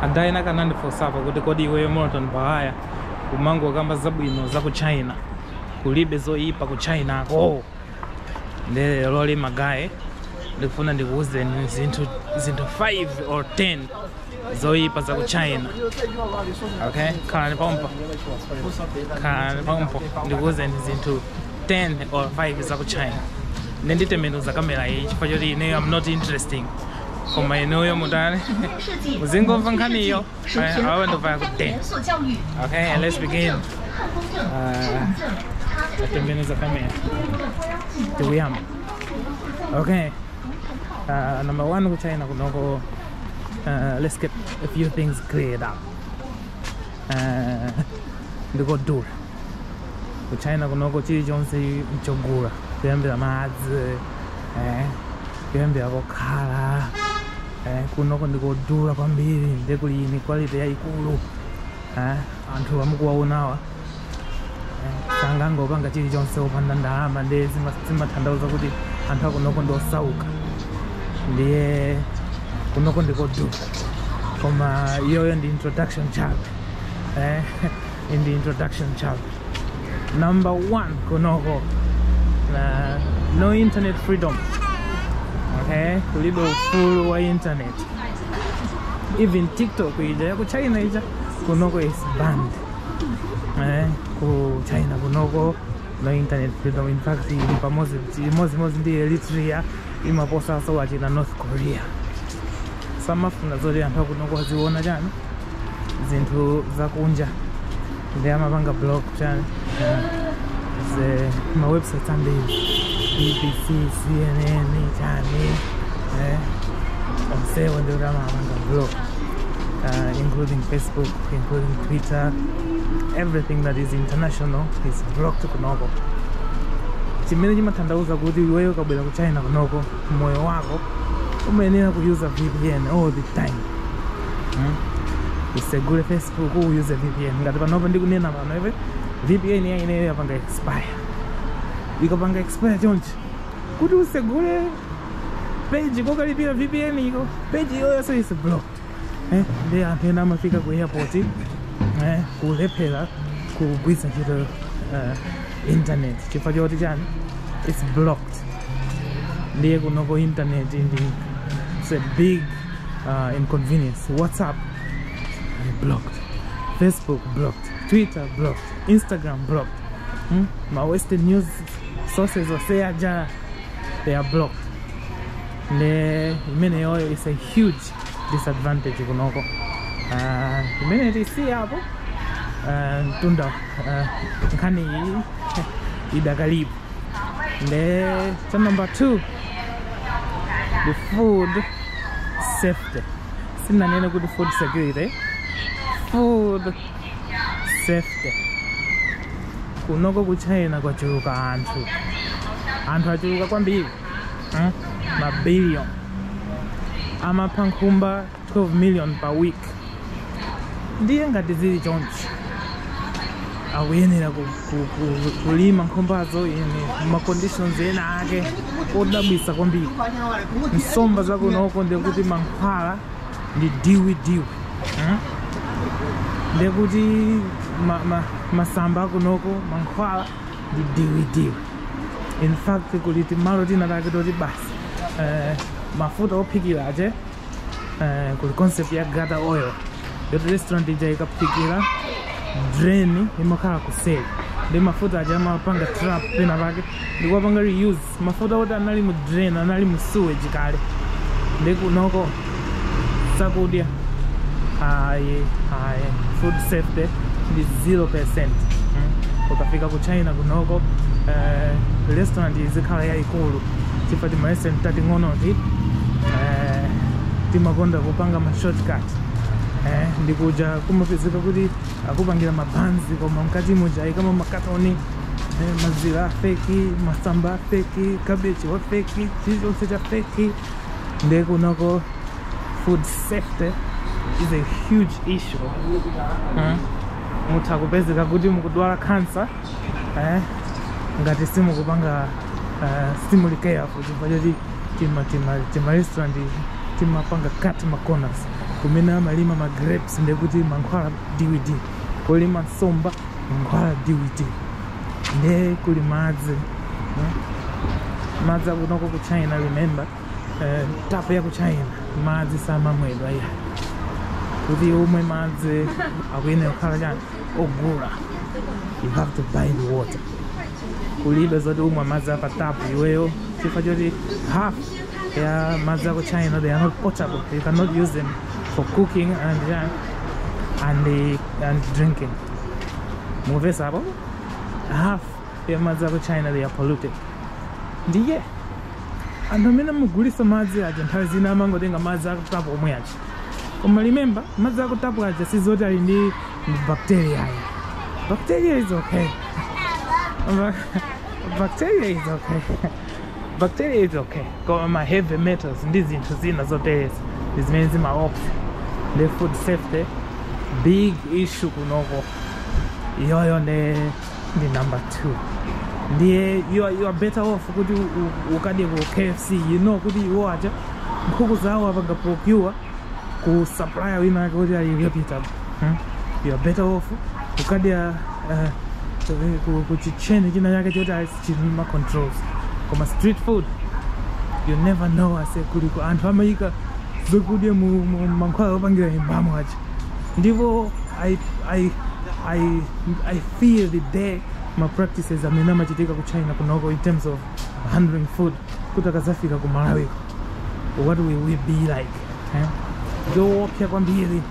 ada ena kanandifunsapo kuti kodi iweyo Morton Baghaya umangokamba zabwino za ku China kulibe zoyipa ku Chinako nde lero li magaye ndikufuna ndikuwuzeni zinthu 5 or 10 zoyipa za ku China okay khalani pompo khalani pompo ndikuwuzeni zinthu 10 or 5 za ku China nde nditembenuza kamera iyi chifukwa choti ineyo am not interesting koma inuyo mutani muzingomva nkhaniyo awe ndovaya kudeni okay and let's begin uh, atembenuza kamera tikuyamba okay uh, number one ku china kunoko uh, let's get a few things cleared up uh, ndikodula ku china kunoko chilichonse mchogula kuyambira madzi eh, kuyambira kokhala eh, kunoko ndikodula kwambiri nde kuli inequality yayikulu eh, anthu amukuwaonawa eh, sangangopanga chilichonse opanda ndalama nde zima- zimatanthauza kuti anthu akunoko ndiosauka ndiye kunoko ndikodula koma iyoyo ndi introduction chabe eh, in the introduction chart number one kunoko na no internet freedom okay kulibe ufulu wa internet even tiktok ija ya ku china ija kunoko is banned eh, ku china kunoko no internet freedom in fact ili pamozi imozimozi ndi eritrea imaposaso wachina north korea samafuna zoti anthu akunoko aziona chani zinthu zakunja nde amapanga block chani yeah. ze mawebsites ambiri bbc cnn chani eh, onsewo ndi kuti amapanga block uh, including facebook including twitter everything that is international is blocked kunoko chimene chimatanthauza kuti iweyo ukabwera ku china kunoko moyo wako umayenera kuyuza vpn all the time hmm? usegule facebook uyuze vpn ngati panopa ndikunena pano iwe vpn ya ineyo yapanga expire ikapanga expire chonchi kuti usegule page kokalipira vpn iko page iyoyonso is blocked eh, nde anthu ena amafika ku airport eh, kulephera kugwiritsa ntchito eh, internet chifukwa choti chani its blocked ndiye kunoko internet ndi its a big uh, inconvenience whatsapp blocked facebook blocked twitter blocked instagram blocked hmm? ma western news sources onse aja they are blocked nde imeneyoyo is a huge disadvantage kunoko uh, imene tisiyapo uh, mtunda uh, nkhani iyi idakalipo nde cha number two the food safety sinanene kuti food security food safety kunoko ku china kwachuluka anthu anthu achuluka kwambiri eh? ma billion amapha nkhumba 12 million per week ndiye ngati zili chonchi akuyenera kulima nkhumbazo in maconditions ena ake odabwisa kwambiri nsomba zakunoko ndekuti mankhwala ndi diwi diwi eh? ndekuti masamba akunoko mankhwala ndi diwidiwi in fact kuli timalo tina take toti basi eh, mafuta ophikira ache eh, kuli concept ya gutter oil yoti restaurant ija ikaphikira drain imakhala kuseri ndi mafuta aja amapanga trap pena pake ndikuwapanga reuse mafuta oti anali mu drain anali mu sewage kale ndi kunoko zakudya ayi ayi food safety ndi 0 percent ukafika ku china kunoko eh, restaurant izikhala yayikulu chifukwa ti tima restaurant tating'onoti eh, timakonda kupanga ma shortcut eh, ndikuja kumapezeka kuti akupangira mabanzi koma mkati muja aikamo makatoni eh, mazira afeki masamba afeki kabichi wafeki chilichonse cha feki nde kunoko food safety is a huge issue hmm? mutha kupezeka kuti mukudwala cancer eh? ngati simukupanga uh, eh, simuli careful chifukwa choti tima tima tima restaurant timapanga cut ma corners kumene amalima ma grapes ndekuti mankhwala diwidiwi kolima nsomba mankhwala diwidiwi nde kuli madzi eh? madzi akunoko ku china remember eh, tapu ya ku china madzi samamwedwa iya kuti umwe madzi akuyenera kukhala chani ogula you have to buy the water kulibe zoti umwe madzi apa tapu iweyo chifukwa choti half ya madzi aku China, they are not potable. You cannot use them for cooking and uh, and uh, and drinking. Mumvetse apo. Half ya madzi aku China they are polluted. Ndiye anthu amene amagulitsa madzi aja nthawi zina amangotenga madzi aku tapu omwe aja koma remember madzi aku tapu aja sizoti ali ndi bacteria ayi bacteria is okay Ba- bacteria is okay bacteria is okay koma ma heavy metals ndi zinthu zina zotereza ndi zimene zimaopsa the food safety big issue kunoko iyoyo ndi ndi number two ndiye you are, you are better off kuti u- u- ukadye ku kfc you know kuti iwo aja nkhuku zawo apanga procure ku supplier wina wake kuti ali reputable hmm? you are better off ukadya uh, ku, ku kitchen china chake choti ali chili ndi ma controls koma street food you never know ase kuliko anthu amayika zakudya mu mu- mu mankhwala opangira imbamo aja ndipo I, I, I, I fear the day ma practices amene amachitika ku china kunoko in terms of handling food kuti akazafika ku malawi what will we be like eh? zoopsa kwambiri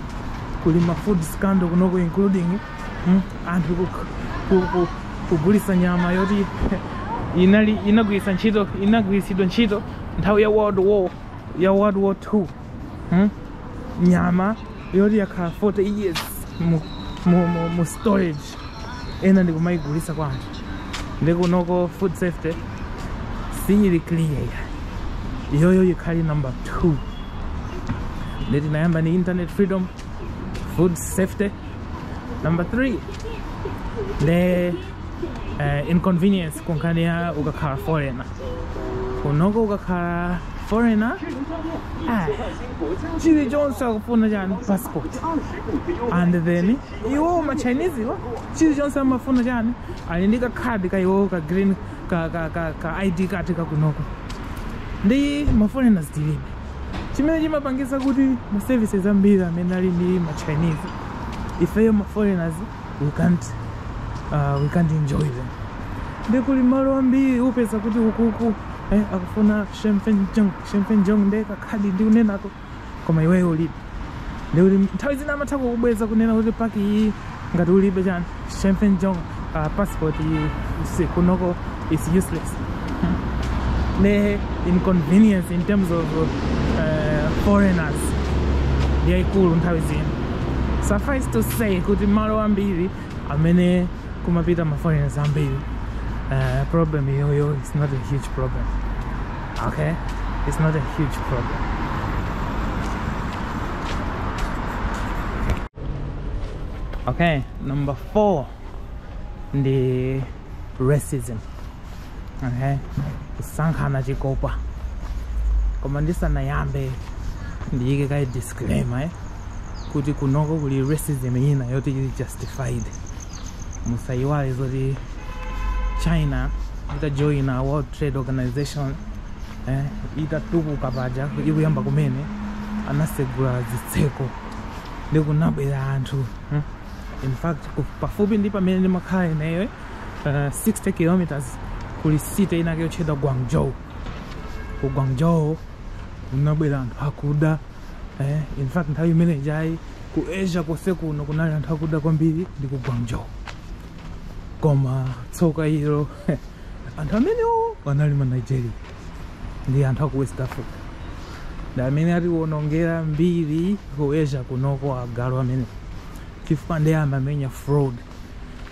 kuli ma food scandal kunoko including Hmm? anthu ku- ku- ku- kugulisa nyama yoti inali inagwiritsa ntchito inagwiritsidwa ntchito nthawi ya world war ya world war 2 hmm? nyama yoti yakhala 40 years mu, mu, mu, mu storage ena ndikumayigulisa kwa anthu ndikunoko food safety siyili clear ya iyoyo yikhali number 2 ndeti ndinayamba ndi internet freedom food safety number three the uh, inconvenience kunkhani ya ukakhala foreigner kunoko ukakhala foreigner ah, chilichonse akufuna chani passport and then iwowo machinesewa chilichonse amafuna chani ali ndi kakhadi ka iwowo ka green ka, ka, ka, ka id card kakunoko ndi maforeigners tilibe chimene chimapangisa kuti ma services ambiri amene ali ndi ma chinese ifeyo ma foreigners we can't, uh, we can't enjoy them ndikuli malo ambiri upeza kuti ukuku eh, akufuna shemfenjong shemfenjong ndekakhadi ndikunenako koma iweyo ulibe ndikuli nthawi zina amatha kukubweza kunena kuti paki iyi ngati ulibe chani shemfen jong uh, passport iyi si- kunoko is useless nde inconvenience in terms of uh, foreigners yaikulu nthawi zina suffice to say kuti malo ambiri amene kumapita ma foreigners ambiri uh, problem iyoyo is not a huge problem okay it's not a huge problem okay number four ndi racism kusankhana chikopa koma ndisanayambe ndiyike kaye disclaimer eh? kuti kunoko kuli racism ina yoti ili justified musayiwale zoti china itajoina world trade organization eh, itatukuka paja ikuyamba kumene anasegula zitseko ndikunabwera anthu eh? in fact pafupi ndi pamene ndimakhala ineyo uh, 60 kilometers kuli city inake yotchedwa guangzhou ku guangzhou kunabwera anthu akuda eh, in fact nthawi imene ijayi ku asia konse kuno kunali anthu akuda kwambiri ndi ku guangzhou koma tsoka ilo anthu amenewo anali ma nigeria ndi anthu aku west africa ndi amene atiwonongera mbiri ku asia kunoko agalu amenewo chifukwa amamenya fraud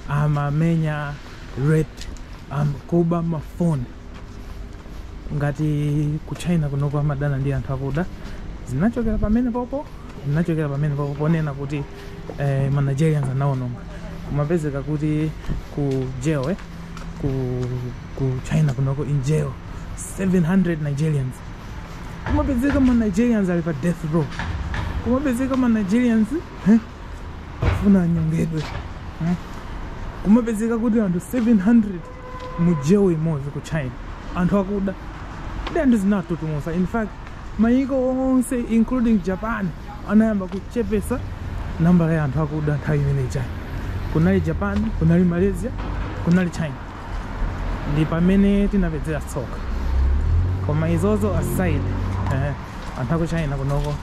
amamenya rape am, kuba mafoni ngati ku china kunoko amadana ndi anthu akuda zinachokera pamenepopo zinachokera pamenepopo ponena kuti eh, ma nigerians anaononga kumapezeka kuti ku jail eh, ku, ku china kunoko in jail 700 nigerians kumapezeka ma nigerians ali pa death row kumapezeka ma nigerians eh, afuna anyongedwe hmm? kumapezeka kuti anthu 700 mu jail imodzi ku china anthu akuda ndi anthu zinatutumusa in fact mayiko onse including japan anayamba kuchepesa nambala ya anthu akuda nthawi imene ijayi kunali japan kunali malaysia kunali china ndi pamene tinapezera tsoka koma izozo aside eh, anthu aku china kunoko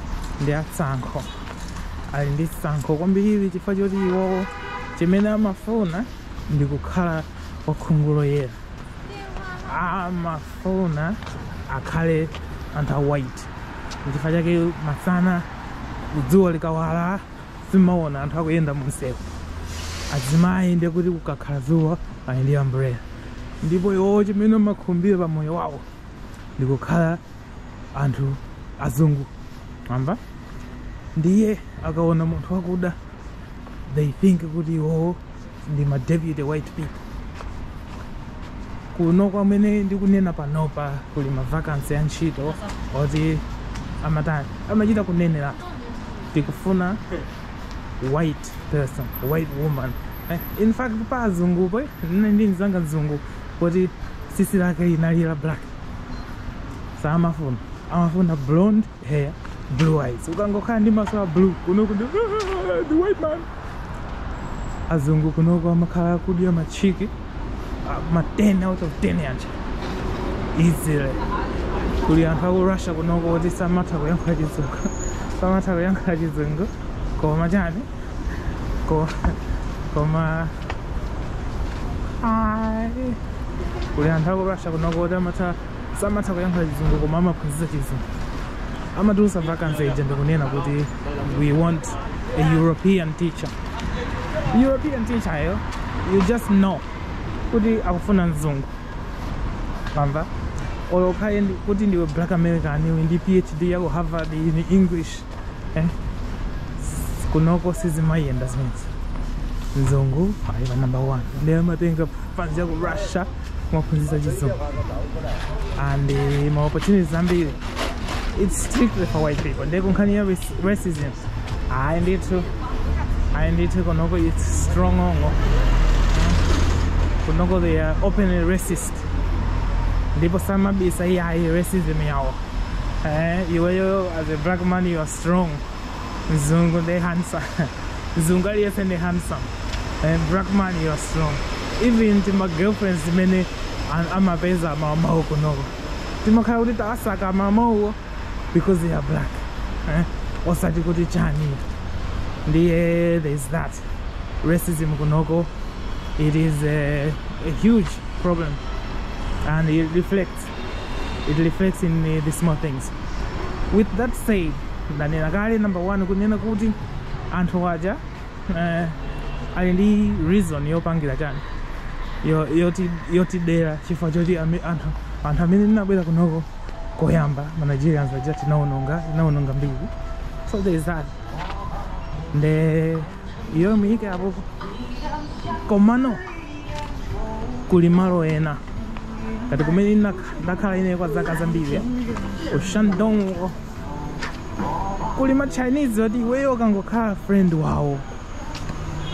ndi atsankho ali ndi tsankho kwambiri chifukwa choti iwowo chimene amafuna ndi kukhala wakhungu loyera amafuna akhale anthu a white chifukwa chake masana dzuwa likawala sumaona anthu akuyenda munsewu azimayi ndiye kuti kukakhala dzuwa ali ndi umbrella ndipo iwowo chimene amakhumbira pa moyo wawo ndikukhala anthu azungu mwamva ndiye akaona munthu wakuda they think kuti iwowo ndi ma deputy white people kunoko mmene ndikunena panopa kuli ma vacancy ya ntchito oti amatani amachita kuneneratu tikufuna white person white woman eh, in fact pa azungupo eh, nnali ndi mzanga mzungu woti sisi lake inali la black samafuna amafuna blonde hair blue eyes ukangokhala ndi maso a blue kunoko ndiwe the white man azungu kunoko amakhala akudya machiki ah, ma 10 out of 10 yacha easily kuli anthu aku russia kunoko oti samatha kuyankhula chizungu samatha kuyankhula chizungu koma chani koma koma Ayi. kuli anthu aku russia kunoko oti samatha kuyankhula chizungu koma amaphunzitsa chizungu amatulutsa vacancy ija ndikunena kuti we want a european teacher european teacher yo you just know kuti akufuna mzungu mwamva olo ukhale kuti ndiwe black american iwe ndi phd yako harvard in english eh? kunoko sizimayenda zimenezi mzungu ali pa number one ndiye amatenga fanzi ya ku russia kumaphunzitsa chizungu and eh, ma opportunities ambiri it's strictly for white people ndiye kunkhani ya raci- racism ayi ndithu ayi ndithu kunoko it's strong strong kunoko they are openly racist ndipo samabisa ayi racism yawo eh, iweyo as a black man you are strong mzungu ndi handsome mzungu aliyense ndi handsome eh, black man you are strong even tima girlfriends timene an- amapeza mamanwo kunoko timakhala kuti tawasaka mamanwo because they are black eh? osati kuti chani ndiye there is that racism kunoko it is a, a huge problem and it reflects it reflects in uh, the small things with that said ndanena kale number one kunena kuti anthu aja eh, ali ndi reason yopangira chani yo- yoti- yotidera chifukwa choti ame- anthu anthu amene tinabwera kunoko koyamba ma nigerians aja tinaononga tinaononga mbiri so there is that nde iyo muyiike apopo komano kuli malo ena ngati kumene ndak- ndakhala ine kwa zaka zambiri ku shandong kuli ma chinese oti iweyo ukangokhala friend wawo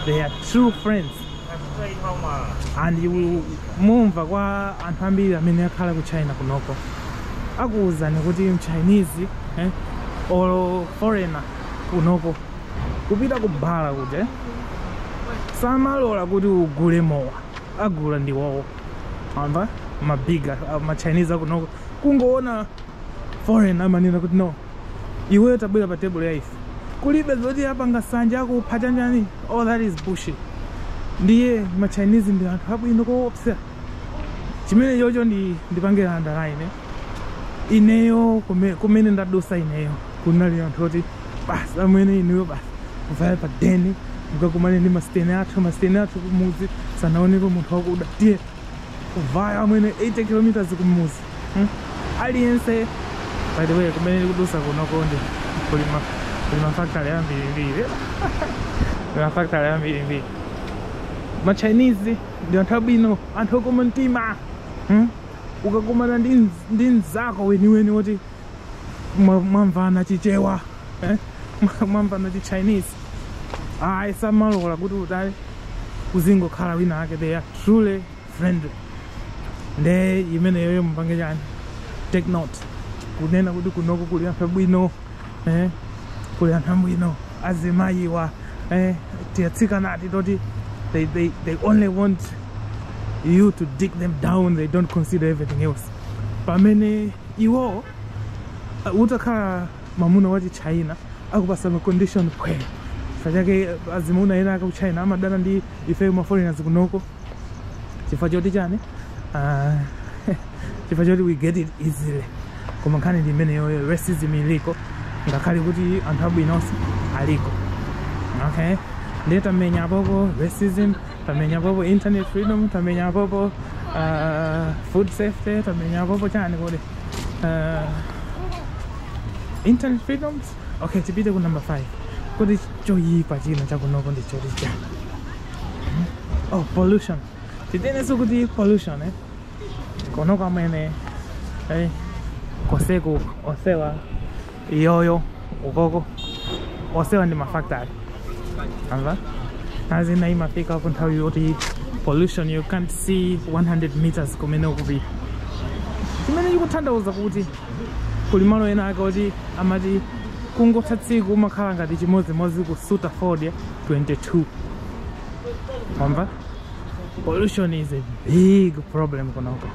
they are true friends and mumva kwa anthu ambiri amene akhala ku china kunoko akuwuzani kuti mchinese eh, or foreigner kunoko kupita ku bala kuja samalola kuti ugule mowa agula ndi iwowo amva mabiga machinese akunoko kungoona foreigner amanena kuti no iweyo tabwera pa table ya ife kulibe zoti apanga nsanje akupha chanjani all that is bullshit ndiye machinese ndi anthu abwino koopsa chimene chocho ndi ndipangira underline eh? ineyo kume- kumene ndadusa ineyo kunali anthu oti basi amwene ineyo basi kuvaya pa deni mukakumane ndi masiteni athu masiteni athu kumuzi sanaonepo munthu wakuda tiye kuvaya amwene 80 kilometers kumuzi hmm? aliyense by the way kumene ndikudusa kunokonde kuli ma- kuli mafakitale ambirimbiri kuli mafakitale ambirimbiri machinese ndi anthu abwino anthu okoma mtima hmm? ukakumana ndi mz- ndi mzako weniweni woti mwa- mwamvana chichewa eh? Mwa- mwamvana chichinese ayi samalola kuti utali uzingokhala wina ake they are truly friendly nde imeneyoyo mupange chani take note kunena kuti kunoko kuli anthu abwino eh, kuli anthu abwino azimayiwa eh, tiyatsikana ati toti they, they, they only want you to dig them down they don't consider everything else pamene iwo uh, utakhala mamuna wa chichina akupasa macondition kwa ife sachake azimuna ena aku china amadana ndi ife maforeigners kunoko chifukwa choti chani Ah, chifukwa choti we get it easily koma nkhani ndi imeneyoyo racism iliko ngakhale kuti anthu abwinonso aliko okay ndiye tamenya apopo racism tamenya apopo internet freedom tamenya apopo uh, food safety tamenya apopo chani kodi uh, internet freedoms okay tipite ku number 5 kodi choyipa china chakunoko ndi choti chani oh pollution titenenso kuti pollution eh? Kunoko amwene hey, koseku osewa iyoyo ukoko osewa ndi mafactory ake azina imafika ku nthawi yoti pollution you can't see 100 meters kumene ukupita chimene chikutanthauza kuti kuli malo ena ake oti amati kungotha tsiku umakhala ngati chimodzimodzi kusuta fodya 22 wamva Pollution is a big problem kunoko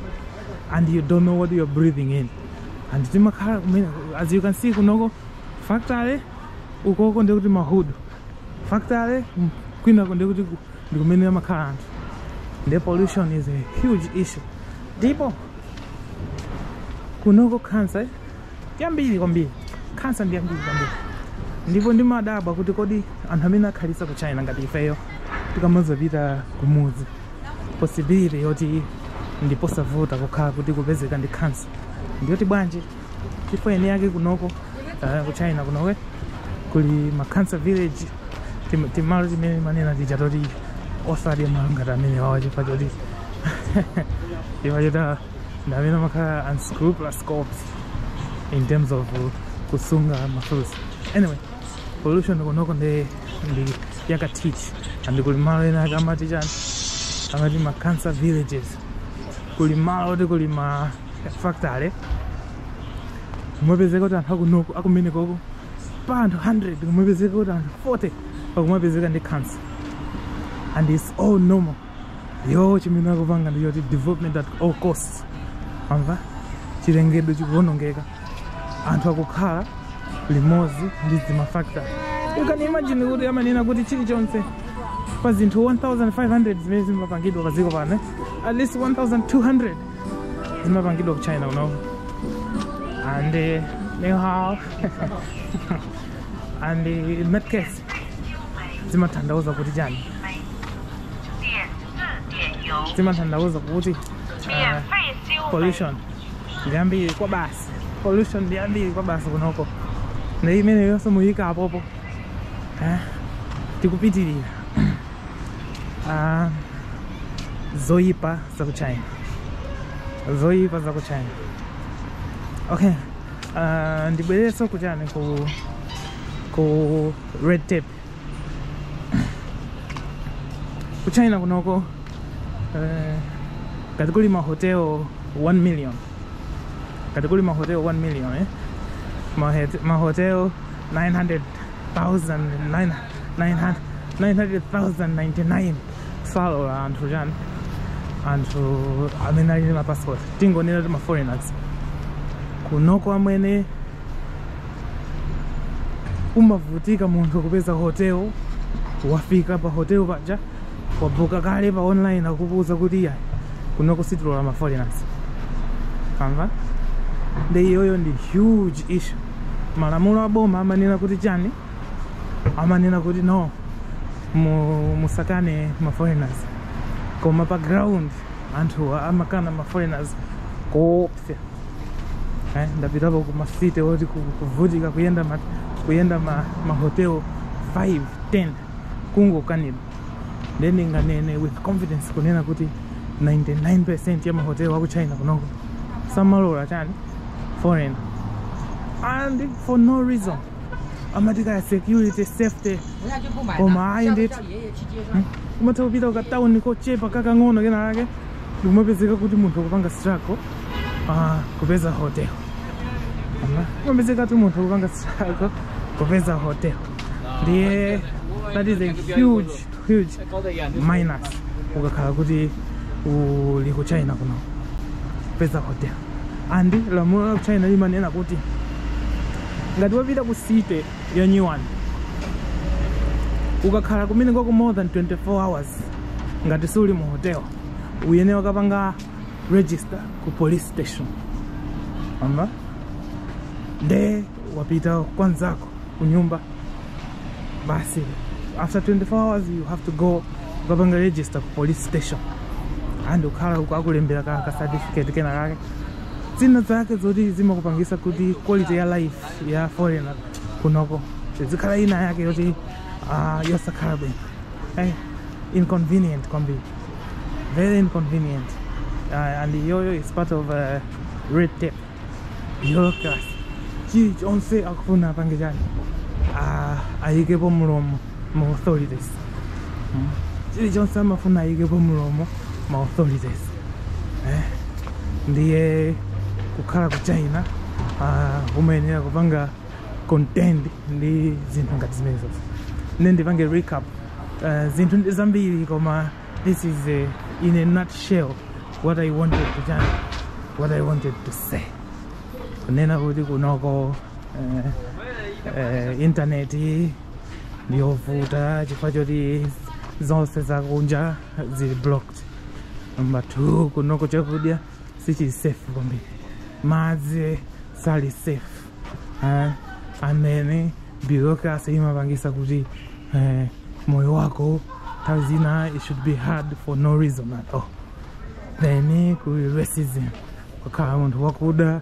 and you don't know what you're breathing in and timakhala kumene as you can see kunoko factory ukoko ndekuti mahudu factory mm, kwinako ndekuti ku- ndi kumene amakhala anthu nde pollution is a huge issue ndipo kunoko cancer yambiri kwambiri khansa ndi yambiri kwambiri ndipo ndimadabwa kuti kodi anthu amene akhalitsa ku china ngati ifeyo tikamazapita kumudzi possibility yoti ndiposavuta kukhala kuti kupezeka ndi khansa ndiyoti bwanji chifukwa air yake kunoko uh, ku china kunowe kuli ma cancer village tim- timalo timene manena tija toti osadya mmalo ngati amene wawa chifukwa choti chifukwa choti ndi amene amakhala unscrupulous cops in terms of kusunga mafruits anyway pollution kunoko ndi ndi yakatithi and kuli malo ena ake amati chani amati ma cancer villages kuli malo oti kuli ma factory kumapezeka kuti anthu akunoko akumenekoko pa anthu 100 kumapezeka kuti anthu 40 pakumapezeka ndi cancer and it's all normal iwowo chimene akupanga ndi choti development at all costs amva chilengedwe chikuwonongeka anthu akukhala limodzi ndi zimafactory you can imagine kuti amanena kuti chilichonse pa zinthu 1500 zimene zimapangidwa pa dziko pano at least 1200 zimapangidwa ku china kunoku and uh, anyhow and uh, in that case zimathandauza kuti chani zimathandauza kuti ah, pollution ndi yambiri kwa basi pollution ndi yambiri kwa basi kunoko nde nimaona mu nyika apopo Eh, tikupitirira Ah, zoyipa za ku china zoyipa za ku china okay Ah, ndibwereso kuchani ku ku red tape ku china kunoko eh, ngati kuli mahotel 1 million ngati kuli mahotel 1 million eh? mahotel 900,099 salola anthu chani anthu amene ali ndi mapassport tingonena kuti maforeigners kunoko amwene kumavutika munthu kupeza hotel wafika pa hotel paja wabuka kale pa online akukuuza kuti iya kunoko sitilola ma foreigners amva nde iyoyo ndi huge issue malamulo a boma amanena kuti chani amanena kuti no mu- musakane ma foreigners koma pa ground anthuwa amakana ma foreigners koopsa eh, ndapitapo ku macity oti ku- kuvutika kuyenda ma, kuyenda ma, mahotel 5 10 kungokanidwa nde ndinganene with confidence kunena kuti 99 percent ya mahotel aku china kunoko samalola chani foreign and for no reason amati kaya security safety koma ayi ndithu umatha kupita ku katauni kochepa kakang'ono kenakake ndikumapezeka kuti munthu akupanga struggle ah, kupeza hotel Ah, kumapezeka kuti munthu akupanga struggle kupeza hotel ndiye that is a huge huge minus ukakhala kuti uli ku china kuno kupeza hotel and lamulo la ku china limanena kuti ngati wapita ku city ya new one ukakhala kumene kwako more than 24 hours ngati suli mu hotel uyenera ukapanga register ku police station nde wapita kwanzako kunyumba basi after 24 hours you have to go ukapanga register ku police station and ukakhala uko akulembera ka ka certificate kena kake zina zake zoti zimakupangisa kuti quality ya life ya foreigner kunoko izikhala ina yake yoti ah, yosakhala bwino eh, inconvenient kwambiri very inconvenient uh, and iyoyo is part of uh, red tape bureaucracy chilichonse akufuna apange chani ah, ayikepo mlomo ma authorities mm. chilichonse amafuna ayikepo mulomo ma authorities eh? ndiye kukhala ku china uh, umayenera kupanga contend ndi zinthu ngati zimenezo nde ndipange recap uh, zinthu ndi zambiri koma this is a, in a nutshell what i wanted to, what i wanted to say kunena kuti kunoko uh, uh, intaneti ndiyovuta chifukwa choti zonse zakunja zili blocked namba 2 kunoko chakudya sichili safe kwambiri madzi sali safe eh, and then bureaucracy imapangisa kuti eh, moyo wako nthawi zina it should be hard for no reason at all then kuli racism kukhala munthu wakuda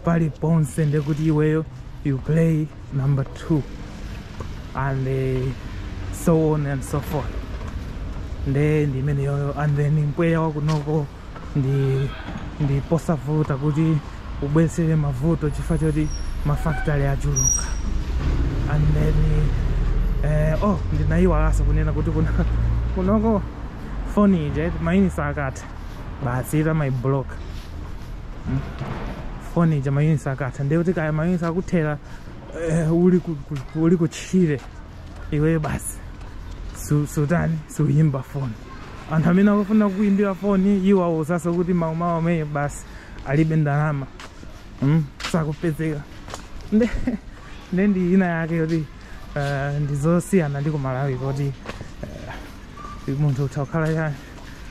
pali ponse ndekuti iweyo you play number two and uh, so on and so forth nde ndi imeneyoyo and then mpweya wakunoko ndi ndi posavuta kuti ubweretse mavuto chifukwa choti mafactory achuluka and then eh, oh ndinayiwalanso kunena kuti kuna kunoko foni ije mayunitsi akatha basi imakhala blocked hmm? foni ija mayunitsi akatha ndiye kuti kaya mayunitsi akuthera eh, uli ku- ku- ku- uli kutchire iweyo basi su- sutani suyimba foni anthu amene akufuna kuyimbira foni iwe awuzaso kuti mawumawu ameneyo basi alibe ndalama mm, sakupezeka nde nde ndi ina yake yoti eh, ndizosiyana ndi kumalawi kuti eh, munthu utha kukhala chani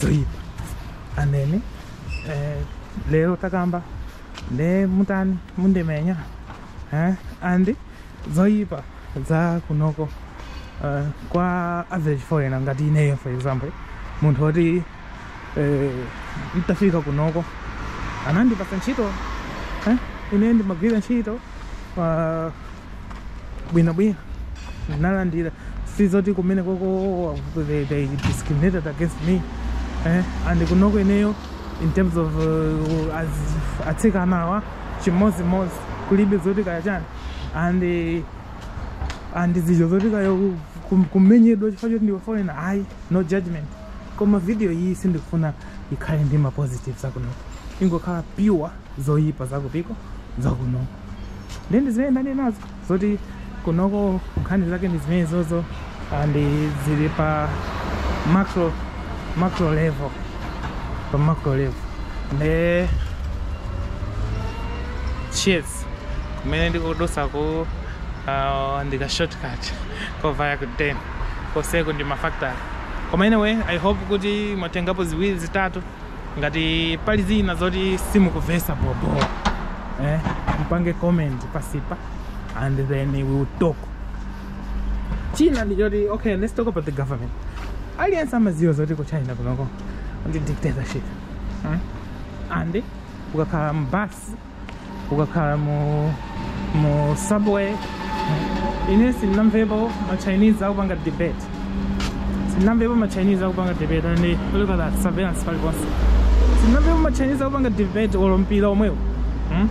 zoyipa and then eh, lero takamba nde mutani mundimenya eh, and zoyipa za kunoko uh, kwa average foreigner ngati ineyo for example munthu woti eh, nditafika kunoko anandipasa ntchito eh, ine ndimagwira ntchito uh, bwinobwino ndinalandira sizoti kumene koko they, they discriminated against me eh? and kunoko ineyo in terms of uh, as atsikanawa chimodzimodzi kulibe zoti kaya chani and eh, and zija zoti kaya ku- kum- kumenyedwa chifukwa choti ndiwe foreigner ayi no judgment koma video iyi sindikufuna ikhale ndi ma positives zakunoko ingokhala pure zoyipa zakupiko zakunoko nde ndi zimene ndanenazo zoti kunoko nkhani zake ndi zimene zozo and zili pa macro macro level pa macro level nde cheers kumene ndikudusa ku uh, ndika shortcut kovaya ku den koseko ndi mafactory koma anyway i hope kuti mwatengapo ziwiri zitatu ngati pali zina zoti simukumvesa bobo eh, mpange comment pasipa and then we will talk china ndi choti okay let's talk about the government aliyense amaziwa zoti ku china kunoko ndi dictatorship hmm? and ukakhala mbasi ukakhala mu mu subway ine sindinamvepo ma chinese akupanga debate sindinamvepo ma chinese akupanga debate and look at that surveillance paliponse sindinamvepo ma chinese akupanga debate olo mpira omwewo hmm?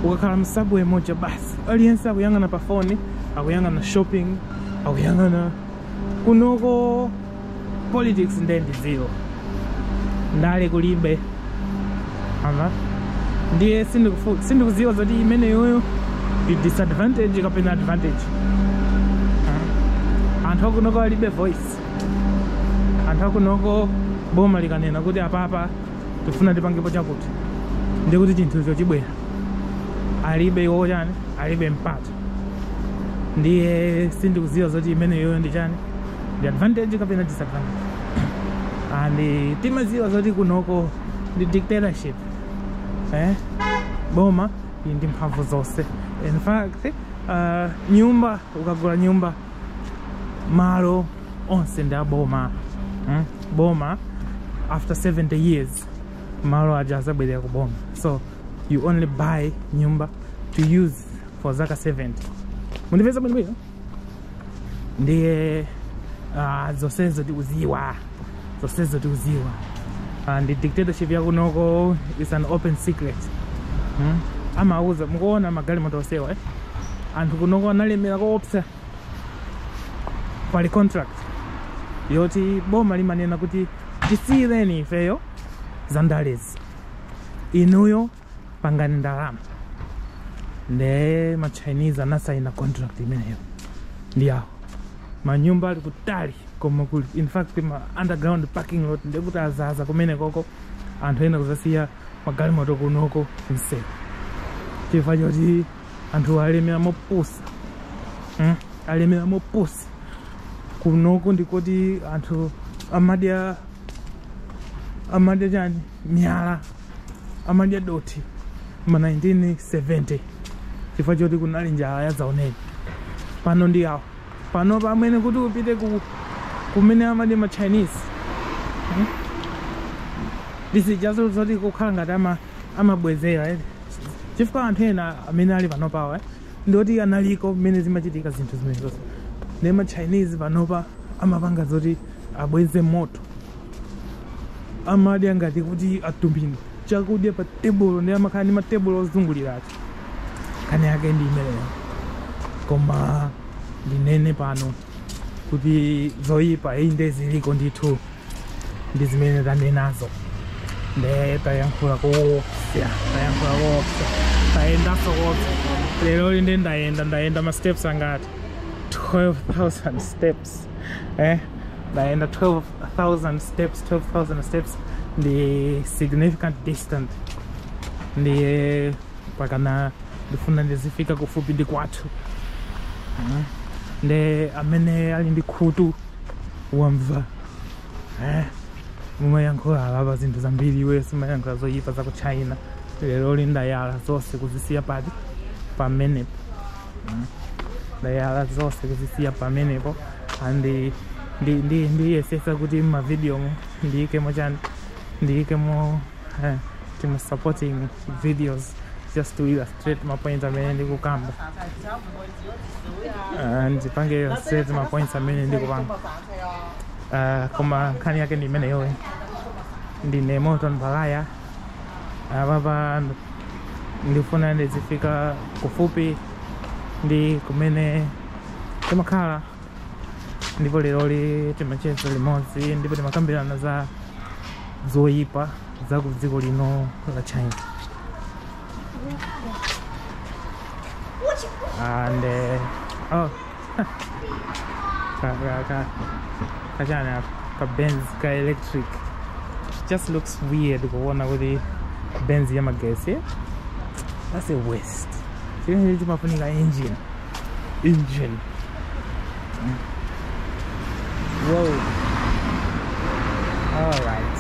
ukakhala mu subway moja basi aliyense akuyang'ana pa phone akuyang'ana shopping akuyang'ana kunoko politics nde ndi zero ndale kulibe ah ndiye sindiku- sindikuziwa zoti imeneyoyo ndi disadvantage kapena advantage Ah. anthu akunoko alibe voice anthu akunoko boma likanena kuti apapa tifuna tipangepo chakuti ndiye kuti chinthucho chibwera alibe iwo chani alibe mpata ndiye sindikuziwa zoti imeneyoyo ndi chani ndi advantage kapena disadvantage and eh, timaziwa zoti kunoko ndi dictatorship eh? boma ili ndi mphamvu zonse in fact uh, nyumba ukagula nyumba malo onse ndi aboma mm? boma after 70 years malo aja azabwerera ku boma so you only buy nyumba to use for zaka 70 mundimvetsa bwinobwino ndiye ah, zonsezo tikuziwa zonsezo tikuziwa Ah, the dictatorship yakunoko is an open secret hmm? amauza mukuona magalimoto osewa eh? anthu kunoko analemera koopsa pali contract yoti boma limanena kuti tisiyireni ifeyo zandalezi inuyo pangani ndalama nde ma chinese anasaina contract imeneyo ndi awo manyumba ali kutali koma kuli in fact ma underground parking lot ndekuti azaza kumene koko anthu ena kuzasiya magalimoto kunoko mseu chifukwa choti anthu alemera mopusa mm? alemera mopusa kunoko ndikuti anthu amadya amadya chani miyala amadya dothi ma 1970 chifukwa choti kunali njala yazaoneni pano ndi awo pano pamene kuti upite ku kumene amadya ma chinese hmm? this is just zoti kukhala ngati ama amabwezera eh? chifukwa anthu ena amene ali panopawa eh? ndioti analiko mmene zimachitika zinthu zimenezozo nde ma chinese panopa amapanga zoti abweze moto amadya ngati kuti atumbe ndi chakudya pa tebulo nde amakhala ndi matebulo ozungulira ati nkhani yake ndi imeneyo koma ndinene pano kuti zoyipa inde ziliko ndithu ndi zimene tanenazo nde tayankhula koopsa tayankhula koopsa tayendanso koopsa leroli nde ndayenda ndayenda ma steps angati 12000 steps steps eh ndaenda 12000 steps 12000 steps ndi significant distance ndiye pakadali ndifuna ndizifika kufupi ndi kwathu Eh, nde amene ali ndi khutu wamva eh mumayankhula alapa zinthu zambiri iwe simayankhula zoyipa za ku china leroli ndayala zonse kuzisiya pati pamenepo ndayala zonse kuzisiya pamenepo and ndi- ndi- ndi- ndiyesesa kuti mmavidiyomo ndiyikemo chani ndiyikemo eh, tima supporting videos just to illustrate mapoints amene ndikukamba Ah, ndipange illustrate mapoints amene ndikupanga Ah, koma nkhani yake ndi imeneyoyi ndine morton baghaya apapa ndifuna ndizifika kufupi ndi kumene timakhala ndipo leroli timacheza limodzi ndipo timakambirana za zoyipa za ku dziko lino la china and uh, oh kachani apa ka benz ka electric it just looks weird kuona kuti benz ya magesi that's a waste chimene chimafunika engine engine Whoa. All right.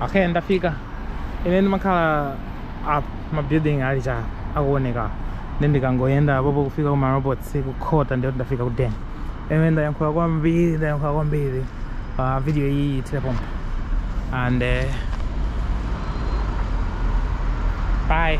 okay ndafika ine ndimakhala apa ma building ali che akuoneka ndiye ndikangoyenda apopo kufika ku marobots kukhota ndiye ndafika ku den ine ndayankhula kwambiri ndayankhula kwambiri uh, video iyi ithere pompa and uh, bye